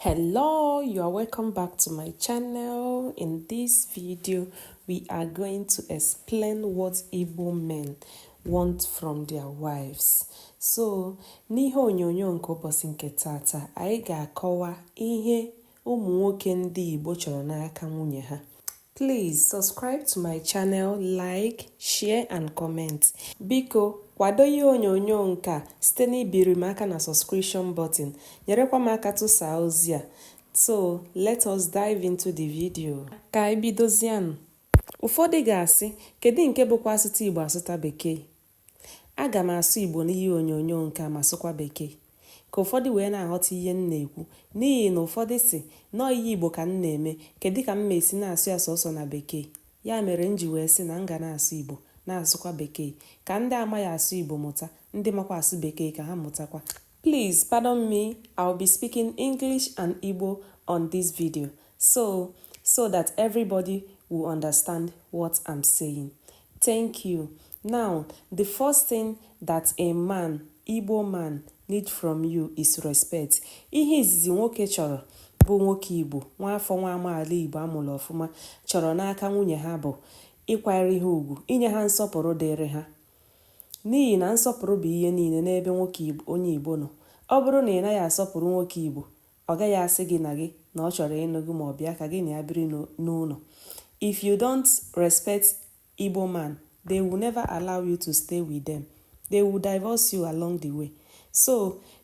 hello you are welcome back to my channel in this video we are going to explain what Igbo men want from their wives so n'ihe onyonyo nke ụbọchị nke taata anyị ga-akọwa ihe ụmụ nwoke ndị Igbo chọrọ n'aka nwunye ha Please subscribe to my channel, like, share and comment. Biko kwado ihe onyonyo nke a site n'ibiri m aka na subscription button, nyerekwa m aka tụsaa ozi a. So, let us dive into the video. Ka anyị bidozianụ. Ụfọdụ ga-asị, kedu nke bụkwa asụta Igbo asụta Bekee? Aga m asụ Igbo n'ihe onyonyo nke a ma sụkwa Bekee ka ụfọdụ wee na-aghọta ihe m na-ekwu n'ihi na ụfọdụ sị na ọọ ihe Igbo ka m na-eme kedụ ka m ma esi na-asụ ya sọsọ na Bekee ya mere m ji wee sị na m ga na-asụ Igbo na-asụkwa Bekee ka ndị amaghị asụ Igbo mụta, ndị makwa asụ Bekee ka ha mụtakwa. Please pardon me, I'll be speaking English and Igbo on this video so that everybody will understand what I'm saying. Thank you. Now, the first thing that a man, Igbo man, need from you is respect. Ihe izizi nwoke chọrọ bụ nwoke Igbo, nwa afọ nwa amaala Igbo a mụrụ ọfụma chọrọ n'aka nwunye ha bụ ịkwanyere ha ugwu, inye ha nsọpụrụ dịrị ha. N'ihi na nsọpụrụ bụ ihe niile n'ebe nwoke onye Igbo nọ. Ọ bụrụ na ị naghị asọpụrụ nwoke Igbo, ọ gaghị asị gị na gị na ọ chọrọ ịnụ gị ma ọ bụ ka gị na ya biri n'ụlọ. If you don't respect Igbo man, they will never allow you to stay with them. They will divorce you along the way. So,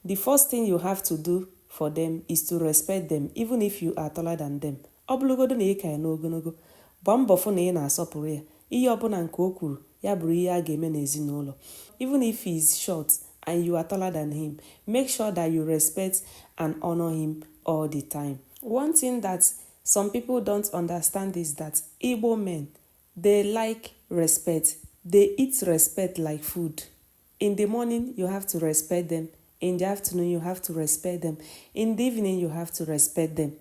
the first thing you have to do for them is to respect them, even if you are taller than them. Ọ bụrụgodo na ị ka ya n'ogologo, gbaa mbọ fụ na ị na-asọpụrụ ya. Ihe ọbụla nke o kwuru, ya bụrụ ihe a ga-eme n'ezinụlọ. Even if he is short and you are taller than him, make sure that you respect and honor him all the time. One thing that some people don't understand is that Igbo men, they like respect. They eat respect like food. In the morning, you have to respect them. In the afternoon, you have to respect them. In the evening, you have to respect them.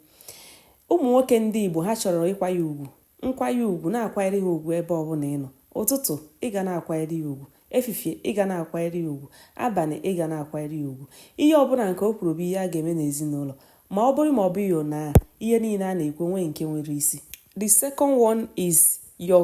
ụmụ nwoke ndị Igbo ha chọrọ ịkwanye ugwu nkwanye ugwu na-akwanyere ha ugwu ebe ọbụla ị nọ ụtụtụ ị ga na-akwanyere ya ugwu efifie ị ga na-akwanyere ya ugwu abalị ị ga na-akwanyere ya ugwu ihe ọbụla nke o kwuru bụ ihe a ga-eme n'ezinụlọ ma ọ bụrụ ma ọ bụghị na ihe niile a na-ekwu nwee nke nwere isi the second one is your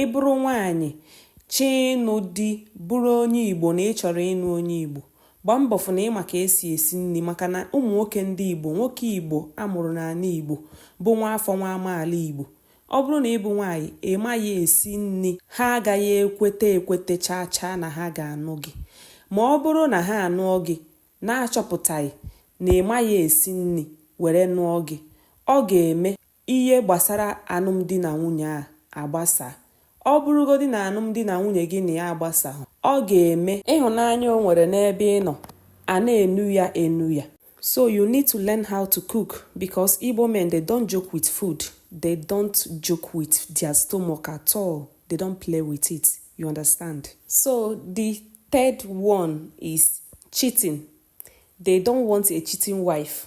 Ị bụrụ nwaanyị chọọ ịnụ di bụrụ onye Igbo na ị chọrọ ịnụ onye Igbo, gbaa mbọ fụ na ị ma ka e si esi nri maka na ụmụ nwoke ndị Igbo, nwoke Igbo a mụrụ n'ala Igbo bụ nwa afọ nwa amaala Igbo, ọ bụrụ na ị bụ nwaanyị ị maghị esi nri, ha agaghị ekweta ekweta chaa chaa na ha ga-anụ gị. Ma ọ bụrụ na ha anụọ gị na-achọpụtaghị na ị maghị esi nri were nụọ gị, ọ ga-eme ihe gbasara anụmdi na nwunye a agbasa. Ọ bụrụgodị na anụmdi na nwunye gị na ya agbasaghị, ọ ga-eme ịhụnanya o nwere n'ebe ị nọ a na-enu ya enu ya. So you need to learn how to cook because Igbo men they don't joke with food. They don't joke with their stomach at all. They don't play with it. You understand? So the third one is cheating. They don't want a cheating wife.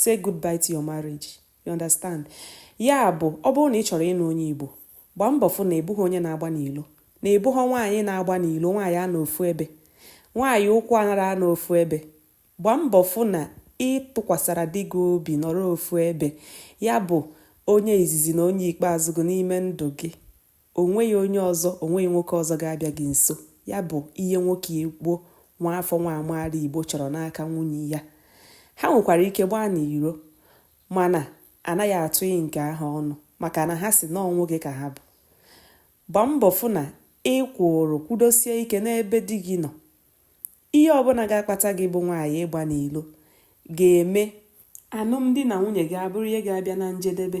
say goodbye to your marriage you understand ya bụ ọ bụrụ na ị chọrọ ịnụ onye Igbo gbaa mbọ fụ na ị bụghị onye na-agba n'ilo na ị bụghọ nwaanyị na-agba n'ilo nwaanyị anọ ofu ebe nwaanyị ụkwụ anara anọ ofu ebe gbaa mbọ fụ na ị tụkwasara di gị obi nọrọ ofu ebe ya bụ onye izizi na onye ikpeazụ gị n'ime ndụ gị O nweghị onye ọzọ, o nweghị nwoke ọzọ ga-abịa gị nso. Ya bụ ihe nwoke Igbo nwa afọ nwa amaala Igbo chọrọ n'aka nwunye ya. Ha nwekwara ike gbaa n'iro mana anaghị atụnye nke ahụ ọnụ maka na ha sị na ọ nwoke ka ha bụ. Gbaa mbọ fụ na ị kwụrụ kwụdosie ike n'ebe di gị nọ. Ihe ọbụla ga-akpata gị bụ nwaanyị ịgba n'ilo ga-eme anụmdi na nwunye gị abụrụ ihe ga-abịa na njedebe.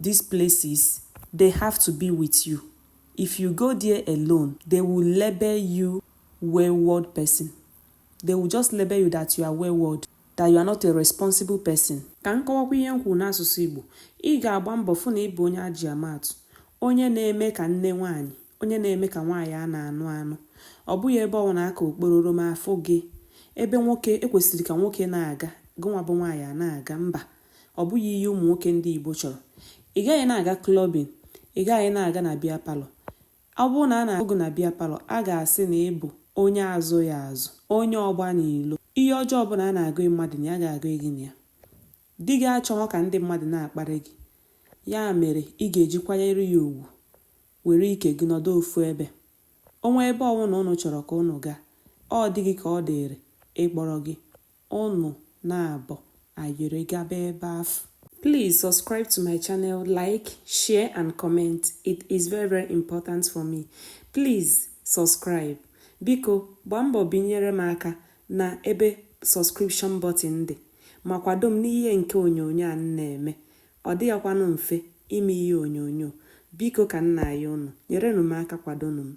These places, they have to be with you. If you go there alone, they will label you wayward person. They will just label you that you are wayward, that you are not a responsible person. Ka m kọwakwa ihe m kwuru n'asụsụ Igbo, ị ga-agba mbọ fụ na ị bụ onye e ji ama atụ, onye na-eme ka nne nwaanyị, onye na-eme ka nwaanyị a na-anụ anụ. Ọ bụghị ebe ọwụna aka okpororom a fụ gị, ebe nwoke e kwesịrị ka nwoke na-aga, gịnwa bụ nwaanyị a na-aga, mba. Ọ bụghị ihe ụmụ nwoke ndị Igbo chọrọ. Ị gaghị na-aga clubbing, ị gaghị na-aga na beer parlour. Ọ bụrụ na a na-ahụ gị na beer parlour, a ga-asị na ị bụ onye a zụghị azụ, onye ọgba n'ilo. Ihe ọjọọ ọbụla a na-agụnye mmadụ na ya a ga-agụnye gị na ya. Di gị achọghọ ka ndị mmadụ na-akparị gị. Ya mere ị ga-eji kwanyere ya ugwu, were ike gị nọdụ ofu ebe. O nwee ebe ọwụna unu chọrọ ka unu gaa, ọ di gị ka ọ dịịrị ịkpọrọ gị. Unu naabọ ayịrị gaba ebe afụ. Please subscribe to my channel, like, share and comment. It is very very important for me. Please subscribe. Biko gbaa mbọ binyere m aka na ebe subscription button dị ma kwado m n'ihe nke onyonyo a m na-eme. Ọ dịghịkwanụ mfe ime ihe onyonyo. Biko ka m na-ayọ unu, nyerenụ m aka kwadonụ m.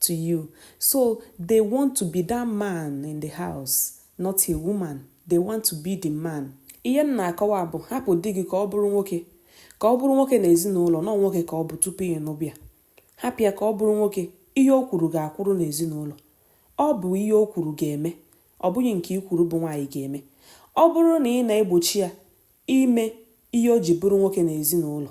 to you. So they want to be that man in the house, not a woman. They want to be the man. Ihe m na-akọwa bụ hapụ di gị ka ọ bụrụ nwoke ka ọ bụrụ nwoke na ezinụlọ na nwoke ka ọ bụ tupu ị nụba ya hapụ ya ka ọ bụrụ nwoke ihe o kwuru ga-akwụrụ n'ezinụlọ ọ bụ ihe o kwuru ga-eme ọ bụghị nke i kwuru bụ nwaanyị ga-eme ọ bụrụ na ị na-egbochi ya ime ihe o ji bụrụ nwoke na ezinụlọ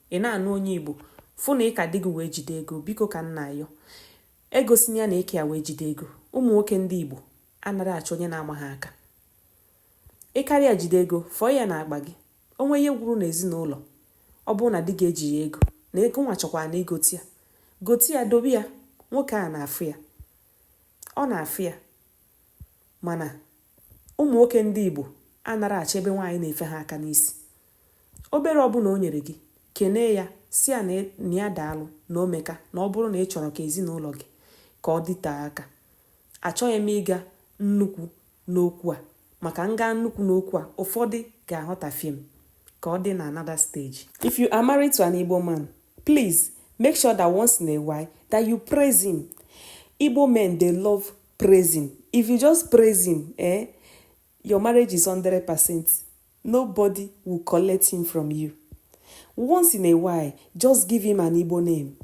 Ị na-anụ onye Igbo? Fụ na ị ka di gị wee jide ego, biko ka m na-ayọ. Egosina ya na ị ka ya wee jide ego. Ụmụ nwoke ndị Igbo anarọ achọ onye na-ama ha aka. Ị karịa jide ego, fọọ ya na akpa gị. O nwee ihe gwụrụ n'ezinụlọ, ọ bụrụ na di gị ejighị ego, na gị nwa chọkwanụ igote ya, gote ya dobe ya, nwoke a na-afụ ya. Ọ na-afụ ya. Mana ụmụ nwoke ndị Igbo anarọ achọ ebe nwaanyị na-efe ha aka n'isi. Obere ọbụna o nyere gị, kenee ya, sị ya na ya daalụ, na o meka, na ọ bụrụ na ị chọrọ ka ezinụlọ gị ka ọ dịtee aka. Achọghị m ịga nnukwu n'okwu a maka m gaa nnukwu n'okwu a, ụfọdụ ga-aghọtafie m. Ka ọ dị na another stage. If you are married to an Igbo man, please make sure that once in a while that you praise him. Igbo men they love praising. If you just praise him, eh, your marriage is 100%. Nobody will collect him from you. Once in a while, just give him an Igbo name.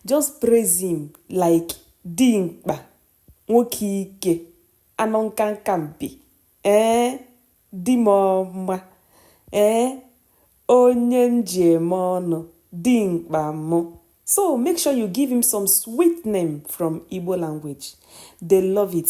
Just praise him like Dimkpa, Nwoke Ike, Anọ Nkanka Mpi, ee, Dimọma, ee, Onye Njem Ọnụ, Dimkpa Mụ. So make sure you give him some sweet name from Igbo language. They love it.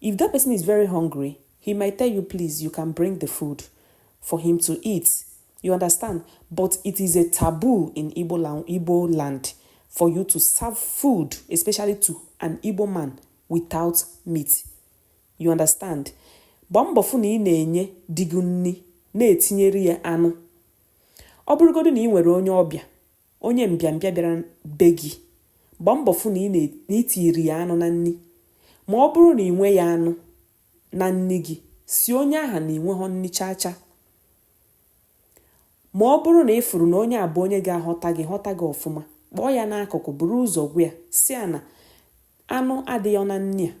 If that person is very hungry, he might tell you please you can bring the food for him to eat. You understand? But it is a taboo in Igbo land for you to serve food, especially to an Igbo man without meat. You understand? Gbaa mbọ fụ na ị na-enye di gị nni na-etinyere ya anụ. Ọ bụrụgodu na ị nwere onye ọbịa Onye mbịambịa bịara be gị, gbaa mbọ fụ na ị tiiri ya anụ na nni. Ma ọ bụrụ na ị nweghị anụ na nni gị, sị onye aha na ị nweghọ nni chaa chaa. Ma ọ bụrụ na ị fụrụ na onye a bụ onye ga-aghọta gị ghọta gị ọfụma, kpọọ ya n'akụkụ buru ụzọ gwa ya sị ya na anụ adịghọ na nni a.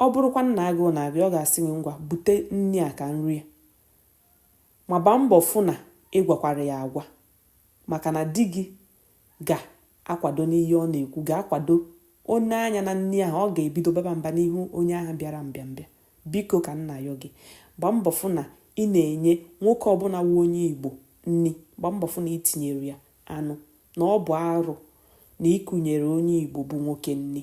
Ọ bụrụkwa na agụụ na-agụ ọ ga-asị gị ngwa bute nni a ka m rie ya. Ma gbaa mbọ fụ na ị gwakwara ya agwa maka na di gị ga-akwado n'ihe ọ na-ekwu, ga-akwado o nee anya na nni ahụ, ọ ga-ebido baba mba n'ihu onye ahụ bịara mbịambịa. Biko ka m na-ayọ gị, gbaa mbọ fụ na ị na-enye nwoke ọbụla wụ onye Igbo nni, gbaa mbọ fụ na i tinyere ya anụ, na ọ bụ arụ na i kunyere onye Igbo bụ nwoke nni.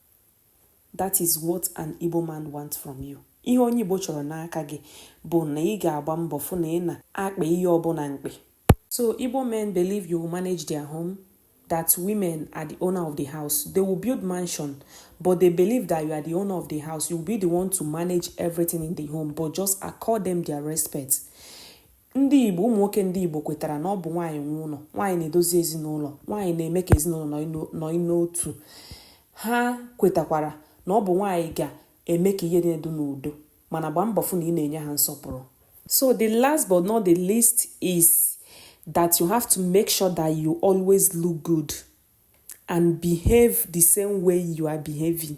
That is what an Igbo man wants from you. Ihe onye Igbo chọrọ n'aka gị bụ na ị ga-agba mbọ fụ na ị na-akpa ihe ọbụla mkpe. So Igbo men believe you will manage their home, that women are the owner of the house. They will build mansion, but they believe that you are the owner of the house. You will be the one to manage everything in the home, but just accord them their respect. Ndị Igbo, ụmụ nwoke ndị Igbo kwetara na ọ bụ nwaanyị nwe ụlọ, nwaanyị na-edozi ezinụlọ, nwaanyị na-eme ka ezinụlọ nọ n'otu. Ha kwetakwara na ọ bụ nwaanyị ga-eme ka ihe niile dị n'udo, mana gbaa mbọ fụ na ị na-enye ha nsọpụrụ. So the last but not the least is that you have to make sure that you always look good and behave the same way you are behaving.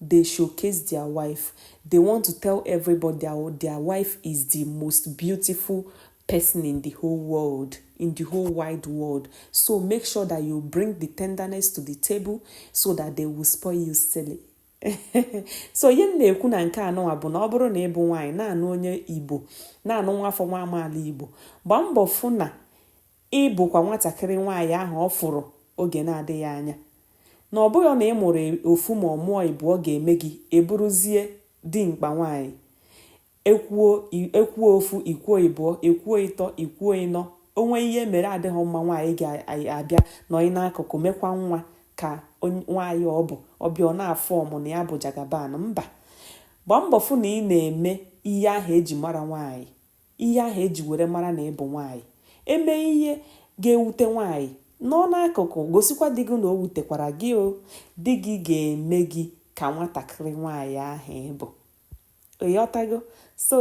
They showcase their wife, they want to tell everybody their wife is the most beautiful person in the whole world, in the whole wide world. So make sure that you bring the tenderness to the table so that they will spoil you silly. so ihe m na-ekwu na nke anụnwa bụ na ọ bụrụ na ị bụ nwaanyị na-anụ onye Igbo na-anụ nwa afọ nwa amaala Igbo gbaa mbọ fụ na Ị bụkwa nwatakịrị nwaanyị ahụ ọ fụrụ oge na-adịghị anya. Na ọ bụghị na ị mụrụ ofu ma ọ mụọ ịbụọ ga-eme gị ị bụrụzie dimkpa nwaanyị. E kwuo ofu i kwuo ịbụọ e kwuo ịtọ i kwuo ịnọ o nwee ihe mere adịghị mma nwaanyị ga-abịa nọọ n'akụkụ mekwa nwa ka nwaanyị ọ bụ ọ bịa na-aform na ya bụ jagaban mba gbaa mbọ fụ na ị na-eme ihe ahụ e ji mara nwaanyị Ihe ahụ e ji were mara na ị bụ nwaanyị. E mee ihe ga-ewute nwaanyị, nọọ n'akụkụ gosikwa di gị na o wutekwara gị o. Di gị ga-eme gị ka nwatakịrị nwaanyị ahụ ị bụ. Ị ghọtago? So,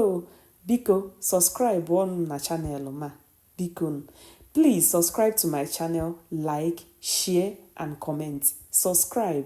biko subscribe nụ na channel m a. Biko nụ. Please subscribe to my channel, like, share and comment. Subscribe,